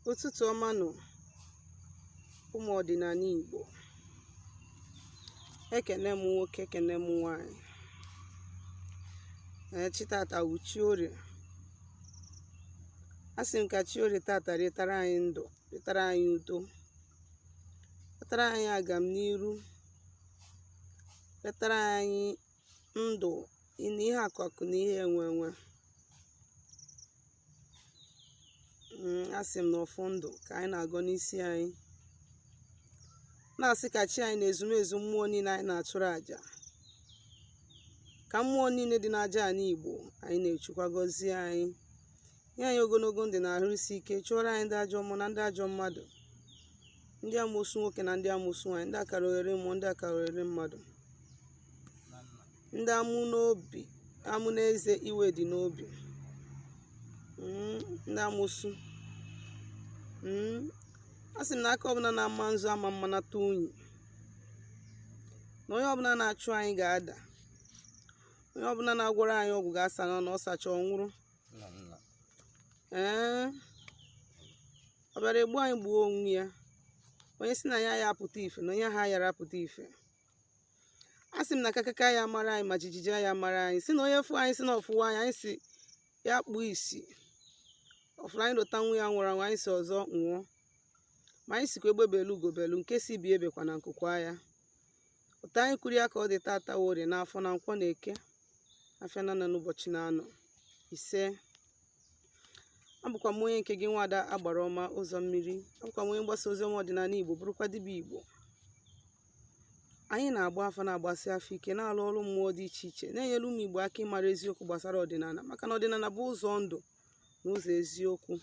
ụtụtụ ọma nụ ụmụ ọdịnala Igbo ekene m nwoke ekene m nwanyị na chi tata wụ chi orie asị m ka chi orie tata wetara anyị ndụ wetara anyị udo wetara anyị agam n'iru wetara anyị ndụ na ihe akụ akụ na ihe enwe enwe mm, asị m na ọfọ ndụ ka anyị na-agọ n'isi anyị na-asị ka chi anyị na ezumezu mmụọ niile anyị na-achụrụ àjà ka mmụọ niile dị n'aja anị Igbo anyị na-echukwa gọzie anyị nye anyị ogologo ndụ na ahụ isi ike chụọrọ anyị ndị ajọ mmụọ na ndị ajọ mmadụ ndị amusu nwoke na ndị amusu nwaanyị ndị akarogheri mmụọ ndị akarogheri mmadụ ndị amụ n'obi amụ n'eze iwe dị n'obi Mm, ndị amusu Mm, asị m na aka ọbụla na-ama nzu ama mma nata unyi na onye ọbụla na-achụ anyị ga-ada onye ọbụla na-agwọrọ anyị ọgwụ ga-asa na ọ sacha ọ nwụrụ ee ọ bịara egbu anyị gbuo onwe ya onye sị na anyị aya apụta ife na onye ha yara apụta ife asị m na kakaka ya mara anyị ma jijiji ya mara anyị sị na onye fụ anyị sị na ọ fụrọ anyị anyị sị ya kpuo isi ọ fụrụ anyị lota nwa ya nwụrụ anwụ anyị sị ọzọ nwụọ ma anyị sịkwa egbe belu ugo belu nke sị ibe ebekwana nku kwaa ya otu anyị kwuru ya ka ọ dị tata wụ orie na afọ na nkwọ na eke afịa na anọ ụbọchị na anọ ise abụkwa m onye nke gị nwada agbara ọma ụzọ mmiri abụkwa m onye mgbasa ozi ọma ọdịnala igbo bụrụkwa dibịa igbo Anyị na-agba afa na-agbasi afa ike na-alụ ọrụ mmụọ dị iche iche na-enyere ụmụ Igbo aka ịmara eziokwu gbasara ọdịnala maka na ọdịnala bụ ụzọ ndụ na ụzọ eziokwu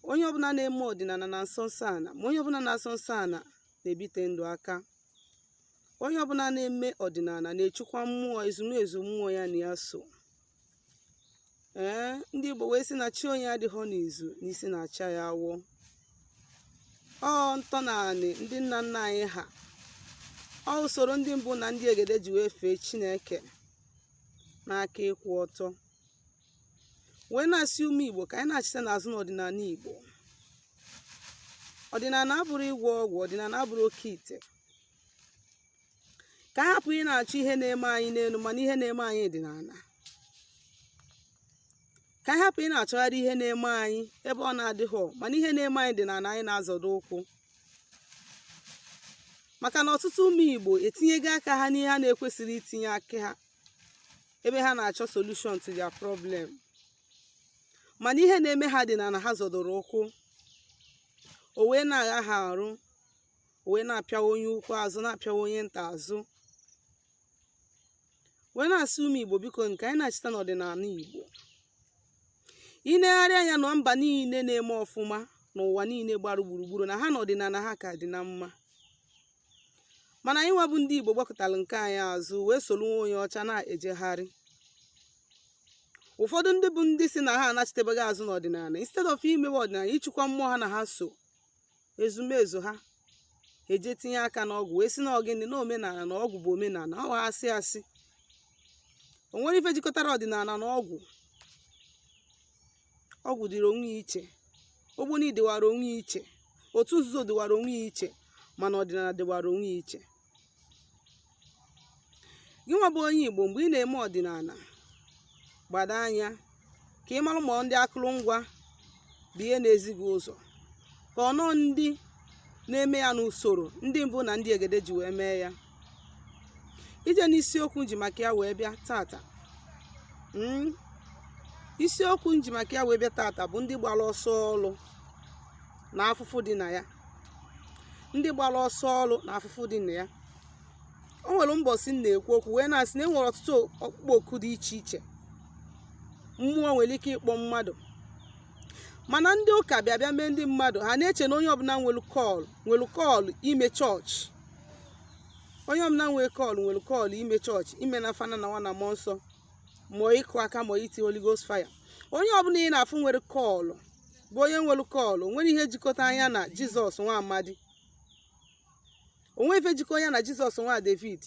onye ọbụla na-eme ọdịnala na-asọ nsọ ana ma onye ọbụla na-asọ nsọ ana na-ebite ndụ aka onye ọbụla na-eme ọdịnala na-echukwa mmụọ ezumezu mmụọ ya na ya so ee ndị Igbo wee sị na chi onye adịghị n'izu n'isi na-acha ya awọ ọ ntọnanị ndị nna nna anyị ha ọ usoro ndị mbụ na ndị egede ji wee fee Chineke n'aka ịkwụ ọtọ wee na-asị ụmụ Igbo ka anyị nachite n'azụ n'ọdịnala Igbo ọdịnala abụrọ ịgwọ ọgwụ ọdịnala abụrọ oke ite ka anyị hapụ ị na-achọ ihe na-eme anyị n'elu mana ihe na-eme anyị dị n'ala ka anyị hapụ ị na-achọgharị ihe na-eme anyị ebe ọ na-adịghị mana ihe na-eme anyị dị n'ala anyị na-azọdo ụkwụ maka na ọtụtụ ụmụ Igbo etinyego aka ha n'ihe ha na-ekwesịrọ itinye aka ha ebe ha na-achọ solution to their problem mana ihe na-eme ha dị n'ala ha zọdoro ụkwụ o wee na-agha ha arụ wee na-apịawa onye ukwu azụ na-apịawa onye nta azụ wee na-asị ụmụ igbo biko nụ ka anyị nachita n'ọdịnala igbo i negharịa anya na mba niile na-eme ọfụma n'ụwa niile gbara gburugburu na ha na ọdịnala ha ka dị na mma mana anyị nwa bụ ndị igbo gbakụtara nke anyị azụ wee soro nwa onye ọcha na-ejegharị ụfọdụ ndị bụ ndị sị na ha anachitebeghị azụ n'ọdịnala instead of imewe ọdịnala ịchịkwa mmụọ ha na ha so ezumezu ha eje tinye aka n'ọgwụ wee sị na ọ gịnị na omenala na ọgwụ bụ omenala ọ ha asị asị o nwerọ ife jikọtara ọdịnala na ọgwụ ọgwụ dịrị onwe ya iche ogboni dịwara onwe ya iche otu nzuzo dịwara onwe ya iche mana ọdịnala dịwara onwe ya iche gị nwa bụ onye Igbo mgbe ị na-eme ọdịnala gbado anya ka ị mara ma ọ ndị akụrụngwa bụ ihe na-ezi gị ụzọ ka ọ nọ ndị na-eme ya n'usoro ndị mbụ na ndị egede ji wee mee ya ije n'isiokwu m ji maka ya wee bịa tata hmm? isiokwu m ji maka ya wee bịa tata bụ ndị gbara ọsọ ọrụ na afụfụ dị na ya ndị gbara ọsọ ọrụ na afụfụ dị na ya o nwere mbọsị m na-ekwu okwu wee na-asị na e nwere ọtụtụ ọkpụkpọ oku dị iche iche mmụọ nwere ike ịkpọ mmadụ mana ndị ụka bịa bịa mee ndị mmadụ ha na-eche na onye ọbụla nwere call nwere call ime chọọchị onye ọbụla nwere call nwere call ime chọọchị ime n'afa nna na nwa na mmụọ nsọ ma ịkụ aka ma iti Holy Ghost fire onye ọbụla ị na-afụ nwere call bụ onye nwere call o nwerọ ihe jikọtara ya na jizọs nwa amadi o nwerọ ife jikọ ya na jizọs nwa david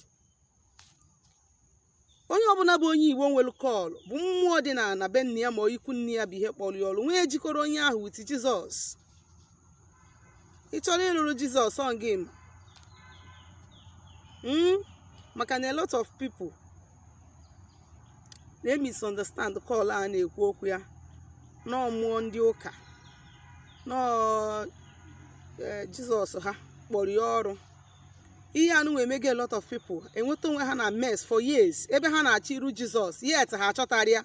onye ọbụla bụ onye igbo nwere call bụ mmụọ dị na be nna ya ma ọ ikwu nne ya bụ ihe kpọrọ ya ọrụ o nwerọ ihe jikọrọ onye ahụ with jizọs ị chọrọ ịrụrụ jizọs ọ gị ma Mm? maka na a lot of people they misunderstand call a na-ekwu okwu ya na ọ mmụọ ndị ụka na ọ eh, jizọs ha kpọrọ ya ọrụ ihe anụwa emego a lot of people enweta onwe ha na mess for years ebe ha na-achọ iru jizọs yet ha achọtarọ ya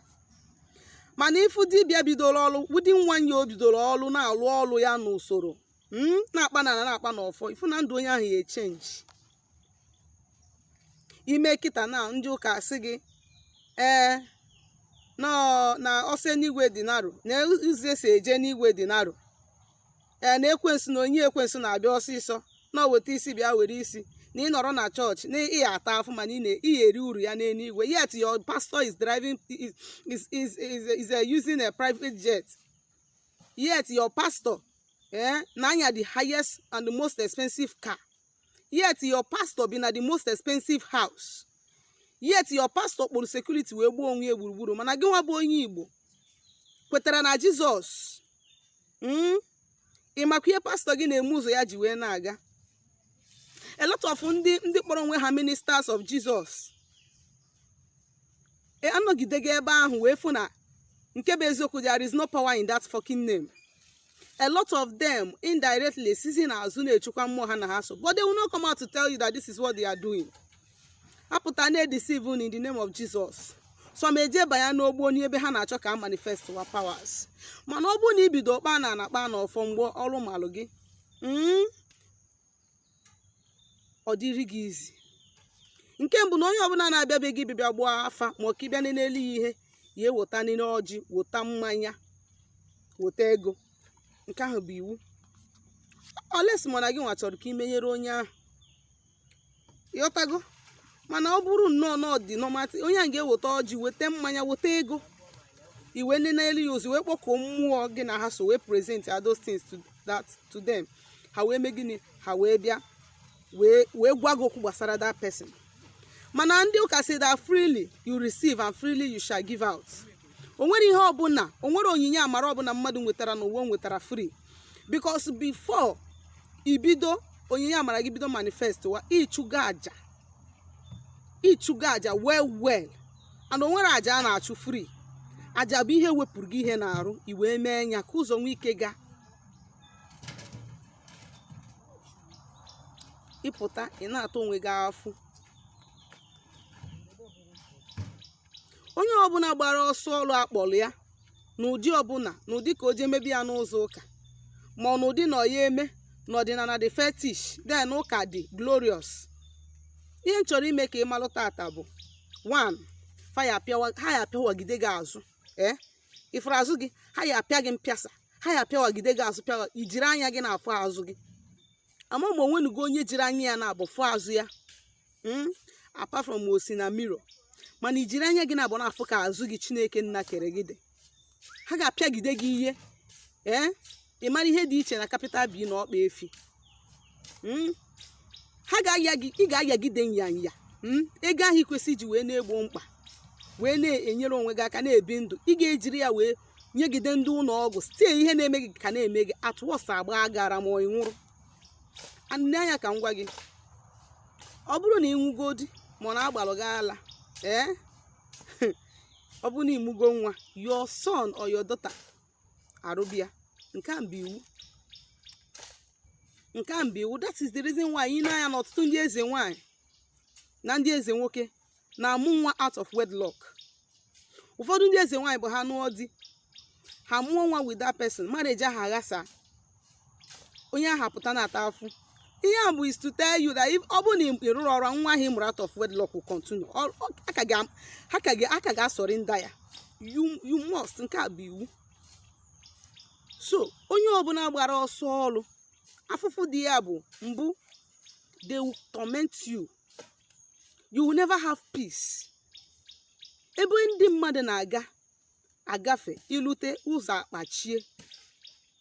mana ifu dibịa bidoro ọrụ wudi nwanyị o bidoro ọrụ na-alụ ọrụ ya n'usoro hmm, na-akpa na na-akpa n'ọfọ ifu na ndụ onye ahụ ya echenji ime kịta na ndị ụka asị gị ee na ụzọ enuigwe dị narrow na ụzọ e si eje enuigwe dị narrow ee na ekwensu na onye ekwensu na-abịa ọsịsọ na o weta isi bịa were isi na ị nọrọ na church na ị ata afụfụ mana ị na ị ya-eri uru ya n'elu igwe yet your pastor is driving is, is, is, is, is uh, using a private jet yet your pastor eh, na-anya the highest and the most expensive car yet your pastor bi na the most expensive house yet your pastor kpụrụ security wee gbaa onwe ya gburugburu mana gị nwa bụ onye igbo kwetara na jesus mm? ị makwa ihe pastor gị na-eme ụzọ ya ji wee na-aga a lot of ndị ndị kpọrọ onwe ha ministers of jesus e, anọgidego ebe ahụ wee fụ na nke bụ eziokwu there is no power in that fucking name a lot of them indirectly sizi n'azụ na-echukwa mmụọ ha na ha so but they will not come out to tell you that this is what they are doing ha pụta na-edeceive unu in the name of Jesus so ma eje banye n'ogbo n'ebe ha na-achọ ka a manifest wa powers mana ọ bụrụ na i bido kpaa na na-akpa na ọfọ mgbe ọrụ malụ gị mm, ọ dịrị gị easy nke mbụ na onye ọbụla na-abịa be gị ịbịa gbaa afa ma ọ ka ị bịa nelu ya ihe ya ewetalịlị ọjị weta mmanya weta ego nke ahụ bụ iwu unless mana gị nwa chọrọ ka i menyere onye ahụ ị ghọtago mana ọ bụrụ nnọọ na ọ dị normality onye ahụ ga-eweta ọjị weta mmanya weta ego i wee nenelu ya ozi wee kpọkọọ mmụọ gị na ha so wee present ya those things to that to them ha wee mee gịnị ha wee bịa wee wee gwa gị okwu gbasara that person mana ndị ụka say that freely you receive and freely you shall give out o nwere ihe ọbụla o nwere onyinye amara ọbụla mmadụ nwetara n'ụwa o nwetara free because before ibido onyinye amara gị bido manifest wa ịchụgo aja ịchụgo aja well well and o nwere aja a na-achụ free aja bụ ihe wepụrụ gị ihe n'arụ i wee mee ya ka ụzọ nwee ike gaa ị pụta ị na-ata onwe gị afụfụ onye ọbụla gbara ọsọ ọrụ a kpọrọ ya n'ụdị ọbụla n'ụdị ka o jee mebe ya n'ụzọ ụka ma ọ n'ụdị na ọ ya eme n'ọdịnala dị fetish then ụka dị glorious ihe m chọrọ ime ka ị malụ tata bụ one ha ya apịawagide gị azụ ee ị fụrụ azụ gị ha ya apịa gị mpịasa ha ya-apịawagide gị azụ pịawa i jiri anya gị na-afụ azụ gị ama m ma o nwenugo onye jiri anya ya naabụ fụ azụ ya hmm? apart from o si na mirror mana i jiri anya gị naabụ na-afụ ka azụ gị chineke nna kere gị dị ha ga-apịagide gị ihe ee eh? ị mara ihe dị iche na capital B na ọkpa efi hmm? ha ga-aya gị ị ga-ayagide nyanya hmm? ego ahụ i kwesị iji wee na-egbo mkpa wee na-enyere onwe gị aka na-ebi ndụ ị ga-ejiri ya wee nyegide ndị ụlọ ọgwụ site ihe na-eme gị ka na-eme gị atụọsa agba gara ma ị nwụrụ nee anya ka m gwa gị ọ bụrụ na ị nwụgodi ma ọ na-agbalụ gị ala ee ọ bụrụ na ị mụgo nwa your son or your daughter arụba ya nke a bụ iwu nke a bụ iwu that is the reason why i nee anya na ọtụtụ ndị eze nwaanyị na ndị eze nwoke na-amụ nwa out of wedlock ụfọdụ ndị eze nwaanyị bụ na ha nụọ di ha mụọ nwa with that person marriage ahụ aghasa onye ahụ apụta na-ata afụ ihe a bụ is to tell you that if- ọ bụrụ na ị rụrụ ọrụ nwa ahụ ị mụrụ out of wedlock will continue Ọ- ọ- a ka ga- ha ka ga- a ka ga-asọrị nda ya you you must nke a bụ iwu so onye ọbụla gbara ọsọ ọrụ afụfụ dị ya bụ mbụ they will torment you you will never have peace ebe ndị mmadụ na-aga agafe i lute ụzọ akpachie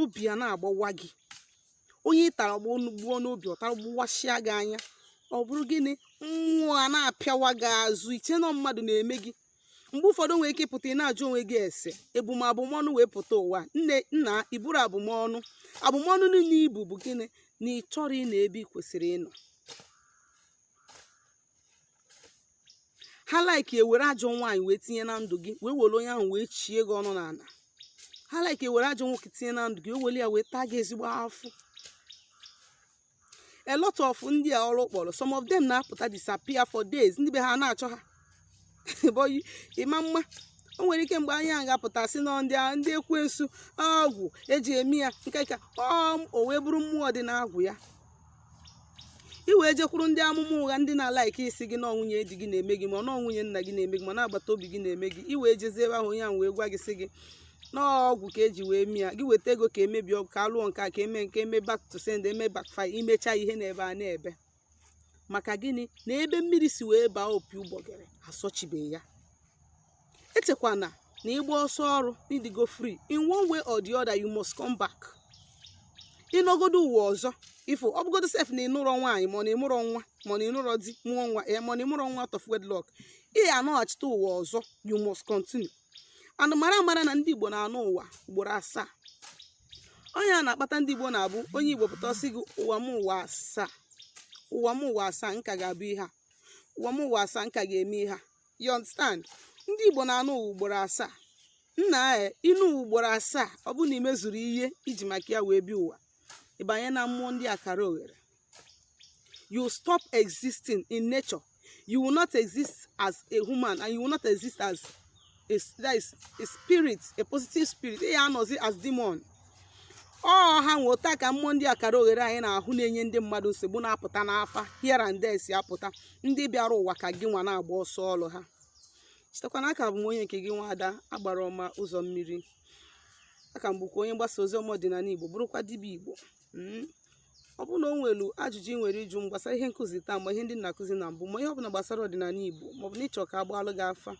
obi a na-agbawa gị onye ị tara gbụọ n'obi ọ tara gbụwasịa gị anya ọ bụrụ gịnị mmụọ a na-apịawa gị azụ i chee na mmadụ na-eme gị mgbe ụfọdụ nwere ike ịpụta ị na-ajụ onwe gị sị ebu m abụmọnụ wee pụta ụwa nne nna i buru abụmọnụ abụmọnụ niile i bu bụ gịnị na ị chọrọ ịnọ ebe ị kwesịrị ịnọ ha like ewere ajọ nwaanyị wee tinye na ndụ gị wee were onye ahụ wee chie gị ọnụ n'ala ha like ewere ajọ nwoke tinye na ndụ gị wee were ya wee taa gị ezigbo afụ a lot of ndị a ọrụ kpọrọ some of them na-apụta disappear for days ndị be ha na-achọ ha bọyi ịma mma o nwere ike mgbe anyị a ga-apụta sị na ndị a- ndị ekwensu ọgwụ eji eme ya nke ka ọ o wee bụrụ mmụọ dị n'agwụ ya i wee jekwuru ndị amụma ụgha ndị na-alike ịsị gị na ọ nwunye di gị na-eme gị ma ọ na ọ nwunye nna gị na-eme gị ma na agbata obi gị na-eme gị i wee jezie ebe ahụ onye ahụ wee gwa gị sị gị na ọgwụ ka e ji wee mee ya gị weta ego ka e mebie ọgwụ ka a lụọ nke a ka eme nke eme back to sender eme backfire i mecha ihe na-ebe ana-ebe maka gịnị na ebe mmiri si wee baa opi ụgbọgịrị asọchibeghị ya echekwana na ịgba ọsọ ọrụ ị dịgo free in one way or the other you must come back ị nọgodo ụwa ọzọ if ọ bụgodo sef na ị nụrọ nwaanyị ma ọ na ị mụrọ nwa ma ọ na ị nụrọ di mụọ nwa ya ma ọ na ị mụrọ nwa out of wedlock ị anọghachite ụwa ọzọ you must continue and mara amara na ndị igbo na-anọ ụwa ugboro asaa ọ nya na-akpata ndị igbo na-abụ onye igbo pụta ọ sị gị ụwa m ụwa asaa ụwa m ụwa asaa m ka ga-abụ ihe a ụwa m ụwa asaa m ka ga-eme ihe a you understand ndị igbo na-anọ ụwa ugboro asaa na ị nọọ ụwa ugboro asaa ọ bụrụ na i mezurọ ihe i ji maka ya wee bịa ụwa ị banye na mmụọ ndị akaraogheri you stop existing in nature you will not exist as a human and you will not exist as a, that is a spirit a positive spirit ị ya-anọzi as demon ọ ha nwe otu a ka mmụọ ndị akaraogheri anyị na-ahụ na-enye ndị mmadụ nsogbu na-apụta n'afa here and there si apụta ndị bịara ụwa ka gị nwa na-agba ọsọ ọrụ ha chetakwa na a ka bụ m onye nke gị nwa ada agbara ọma ụzọ mmiri a ka m bụkwa onye mgbasa ozi ọma ọdịnala igbo bụrụkwa dibịa igbo ọ bụrụ na o nwere ajụjụ ị nwere ịjụ m gbasara ihe nkụzi taa ma ihe ndị m na-akụzi na mbụ ma ihe ọbụla gbasara ọdịnala Igbo maọbụ na ị chọọ ka a gbaalụ gị afa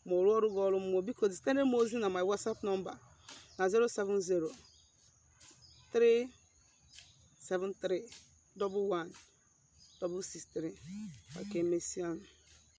ma ọ rụọrụ gị ọrụ mmụọ biko zitere m ozi na my WhatsApp nọmba na 070 373 11 163 ma ka emesịa